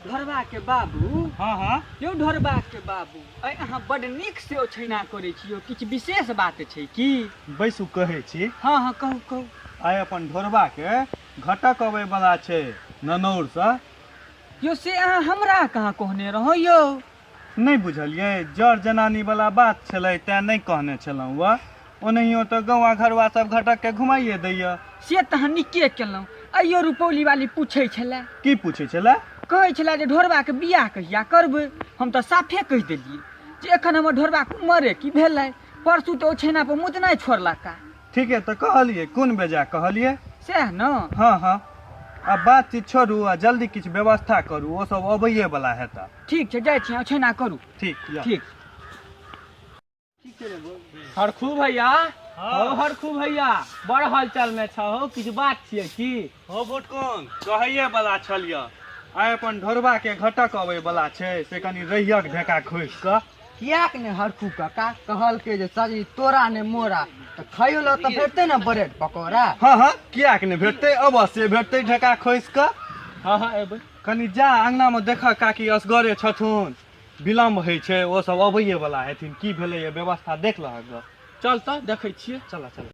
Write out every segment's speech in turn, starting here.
ढोरबा के बाबू हाँ हाँ यौ ढोरबा के बाबू आइ अहाँ बड नीक से ओछैना करै छी यौ किछु विशेष बात छै की बैसू कहै छी हँ हँ कहू कहू आइ अपन ढोरबा के घटक अबै बला छै ननौर से यौ से अहाँ हमरा कहाँ कहने रहौ यौ नहि बुझलियै जर जनानी वाला बात छलै तैं नहि कहने छलहुँ वह ओनाहियो तऽ गौवा घरवा सब घटक के घुमाइए दैया से तऽ अहाँ नीके केलहुँ अइयो रुपौली वाली पूछै छलै की पूछै छलै कहै छलै जे ढोरबाके बियाह कहिया करबै हम तऽ साफे कहि देलियै जे एखन हमर ढोरबाके उमरे की भेलै परसू तऽ ओ छेना पर मुतनाइ छोड़लका ठीके तऽ कहलियै कोन बेजा कहलियै सएह ने हँ हँ आ बातचीत छोड़ू आ जल्दी किछु व्यवस्था करू ओ सब अबैये वाला हेता ठीक छै जाइ छी ओछैना करू ठीक जाउ। ठीक हरखू भैया हँ। हौ हरखू भैया बड़ हलचल में छहो किछु बात छियै की हौ भोटकन कहैए बला छल यऽ आइ अपन ढोरबा के घटक अबै बला छै से कनि रहियक ढेका खोसि कऽ किएक ने हरखू काका कहलकै जे सजी तोरा ने मोरा तऽ खाइयो लऽ तऽ भेटतै ने ब्रेड पकौड़ा हँ हँ किएक ने भेटतै अवश्य भेटतै ढेका खोसि कऽ हँ हँ एबै कनि जा अङ्गनामे देखऽ काकी असगरे छथुन विलम्ब होइ छै ओ सब अबैए बला हेथिन की भेलैए व्यवस्था देख लहक गऽ चल तऽ देखै छियै चलऽ चलऽ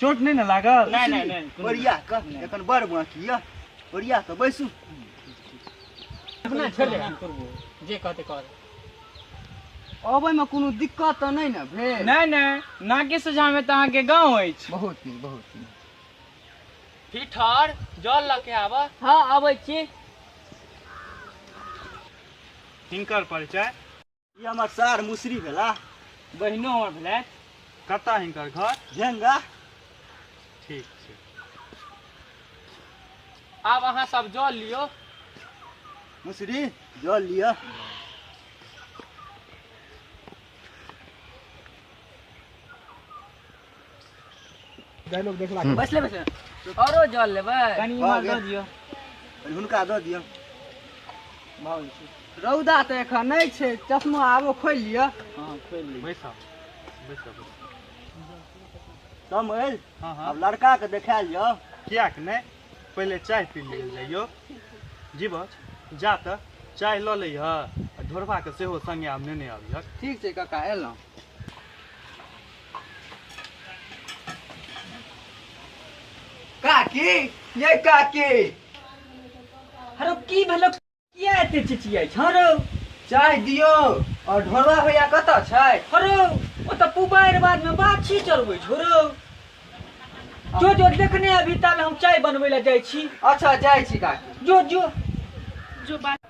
चोट नहीं ना लागल नहीं नहीं नहीं बढ़िया का एखन बड़ बाकी या बढ़िया का बैसू अपना छोड़ दे जे कहते कर अबै में कोनो दिक्कत तो नहीं ना भेल नहीं नहीं नाके सोझा में तहाँ के गाँव अछि बहुत नीक बहुत नीक फिठर जल लके आबऽ हाँ अबै छी हिनकर परिचय ई हमर सार मुसरी भेला बहिनो हमर भेलै कतऽ हिनकर घर झेंगा ठीक छै आब अहाँ सब जल लियो मुसरी जल लिअ डायलॉग देखला हम्म। बैसले बैसले औरो जल लेबै कनी भऽ इमहर गेल। दऽ दियौ कनी हुनका दऽ दियौ भाव छै रौदा तऽ एखन नहि छै चश्मा आबो खोलि लिअ हँ खोलि ली बैसब बैसब समझ हँ हँ आब लड़का के देखायल जाओ किया कि नहि पहिले चाय पी लिअ जाइयो जीवछ जा तऽ चाय लऽ लैह आ ढोरबाके सेहो संगे आब नेने आबिहक ठीक छै काका एलहुँ काकी ये काकी हरो की भेलो किया एते चिचियाइ छ हरो चाय दियो और ढोलवा भैया कत छै हरो ओ त पुबाइर बाद में बाछी चलबै छोरो जो जो देखने अभी ताल हम चाय बनबै ला जाइ छी अच्छा जाइ छी काकी जो जो जो बात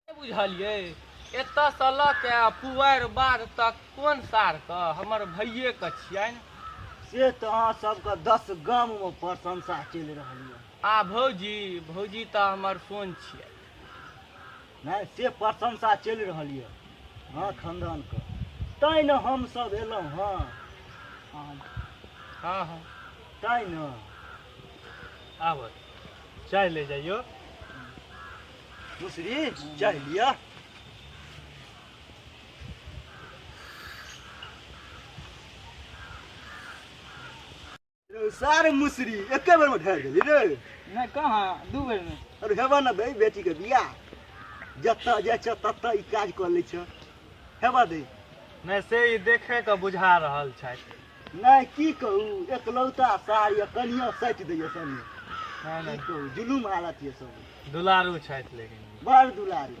नहि बुझलियै एतयसँ लऽ के आ पुआरि बाध तक कोन सारके हमर भैयेके छियनि से तऽ अहाँ सबके दस गाममे प्रशंसा चलि रहल यऽ आ भौजी भौजी तऽ हमर सोन छियै नहि से प्रशंसा चलि रहल यऽ हँ खानदानके तैँ ने हमसभ एलहुँ हँ हँ हँ हँ तैँ ने आबऽ चाय ले जाइयो दूसरी चाह लिया सारे मुसरी एक बेर में ढेर गेली रे नहीं कहाँ दू बेर में अरे हेबा ना दे बेटी के बियाह जतऽ जाइ छ ततऽ ई काज कऽ लै छ हेबा दे नहि से ई देखे के बुझा रहल छथि नहि की कहू एकलौता सार यऽ कनिया सटि दैया सनी हँ की ने कहू जुलूम हालत यऽ सब दुलारू छथि लेकिन बड़ दुलारी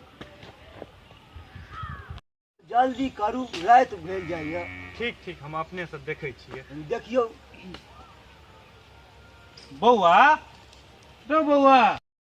जल्दी करू राति भेल जाइए ठीक ठीक हम अपने से देखै छियै देखियौ बौआ रो बौआ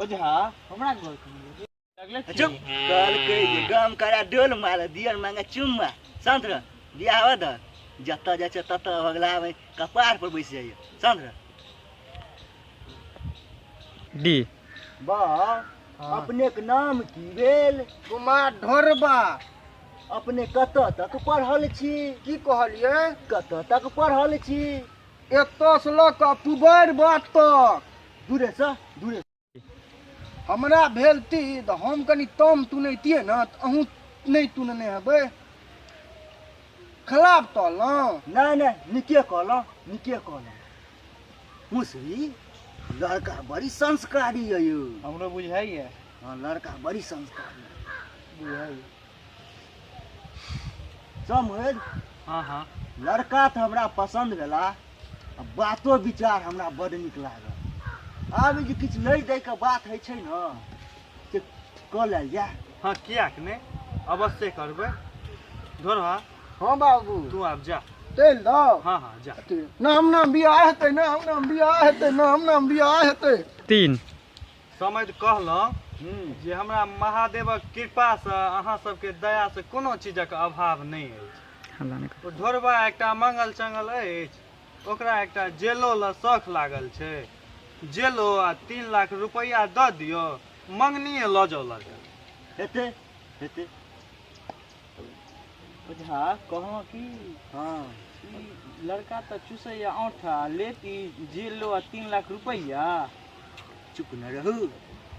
ओझा हमरा घर कहियो लगले छै। चुप कल कहि दे गाम करा डोल मार दियर मांगे चुम्मा शांत रह बियाह हो द जतऽ जाइ छै ततऽ अगला में कपार पर बैस जाइए शांत रह डी बा हाँ। अपने के नाम की भेल कुमार ढोरबा अपने कतऽ तक पढ़ल छी की कहलिए कतऽ तक पढ़ल छी एतऽ से लऽ कऽ पुबैर बात तक दूरे से दूरे हमरा भेल ती तऽ हम कनि तम तुनैतियै ने तऽ अहूँ नहि तुनने हेबै खराब कहलहुँ नहि नहि नीके कहलहुँ नीके कहलहुँ मुसरी लड़का बड़ी संस्कारी यऽ यौ हमरो बुझाइए हँ लड़का बड़ी संस्कारी बुझाइए समझ हाँ हाँ लड़का तऽ हमरा पसन्द भेला आ बातो विचार हमरा बड नीक लागल आब ई जे किछु लै दैके बात होइ छै ने से कऽ लेल जाय हाँ किया के ने अवश्य करबै धोरवा हाँ बाबू तू आब जा चलि जाउ हाँ हाँ जा नाम नाम बियाह हेतै नाम नाम बियाह हेतै नाम नाम बियाह हेतै तीन समझ कहलहुँ हूँ जे हमरा महादेवक कृपासँ अहाँ सबके दयासँ कोनो चीजक अभाव नहि अछि हल्ला नहि कर। ओ ढोरबा एकटा मंगल चंगल अछि ओकरा एकटा जेलो लऽ शौख लागल छै जेलो आ तीन लाख रुपैआ दऽ दियौ मंगनिए लऽ जाउ लड़का हेतै हेतै ओझा कहलहुँ कि हँ ई लड़का तऽ चूसैए औंठ आ लेत ई जेल लो आ तीन लाख रुपैआ चुप न रहू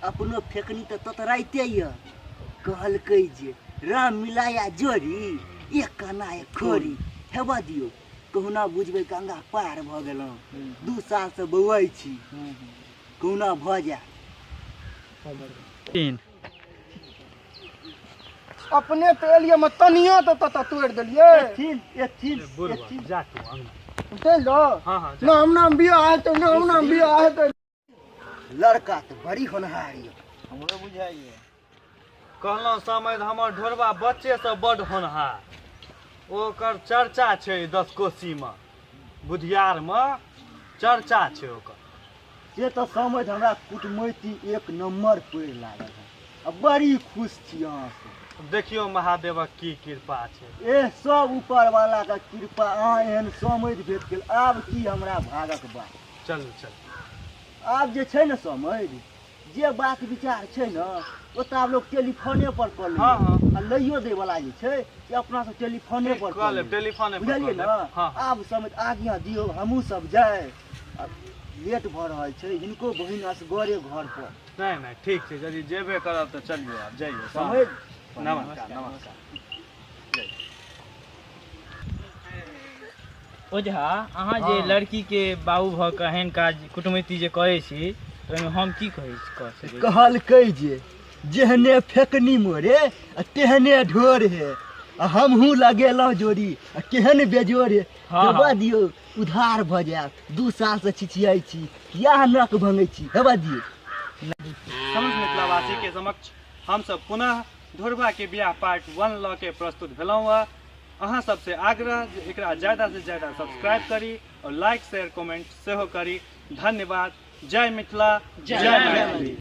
अपनो फेकनी तऽ ततराइते यऽ कहलकै जे राम मिलाया जोड़ी एक काना एक खोरी हेबा दियौ कहुना बुझबै गंगा पार भऽ गेलहुँ दू सालसँ बौआइ छी कहुना भऽ जाय तीन अपने तऽ एलियै हम तनिया तऽ तत तोड़ि देलियै एथिन एथिन एथिन जा तू अंगना चलि जाओ हाँ, हाँ, ना हम नाम बिया है तो ना हम नाम बिया है तो लड़का तो बड़ी होनहार ये हमरो बुझाइए कहलहुँ समय तऽ हमर ढोरबा बच्चेसँ बड्ड होनहार ओकर चर्चा छै दस कोसीमे बुधियारमे चर्चा छै ओकर से तऽ समझ हमरा कुटमैती एक नम्बर पड़ि लागल है आ बड़ी खुश छी अहाँसँ देखियौ महादेवक की कृपा छै एह सब ऊपर वाला के कृपा अहाँ एहन समझ भेट गेल आब की हमरा भागक बात चलू चलू आब जे छै ने समझ जे बात विचार छै ने ओ तऽ आब लोग टेलीफोने पर कऽ लै हाँ, हाँ। आ लइयो दै वाला जे छै से अपना सब टेलीफोने पर कऽ कऽ लेब लेब। टेलीफोने पर बुझलियै कऽ ने लेब। हाँ, हाँ। आब समझ आज्ञा दियौ हमहूँ सब जाय आ लेट भऽ रहल छै हिनको बहिन असगरे घर पर नहीं नहीं ठीक छै यदि जेबे करब तऽ चलियौ आब जइयौ समझ नमस्कार नमस्कार ओझा अहाँ जे हाँ। लड़की के बाबू भऽ कऽ एहन काज कुटमैती जे करै छी तऽ ओहिमे हम की कहै छी कह सकै छी? कहलकै जे जेहने फेकनी मोरे आ तेहने ढोर हे आ हमहूँ लगेलहुँ जोड़ी आ केहन बेजोर हे हँ, हेबा हँ। दियौ उधार भऽ जायत दू साल से छिछियाइ छी किया अहाँ नक भंगै छी हेबा दियौ समस्त मिथिलावासी के समक्ष हमसब पुनः धोरबा के बियाह पार्ट वन लऽ के प्रस्तुत भेलहुँ हँ अहाँ सबसे आग्रह जे एकरा ज्यादा से ज्यादा सब्सक्राइब करी और लाइक शेयर कमेंट सेहो करी धन्यवाद जय मिथिला जय मैथिली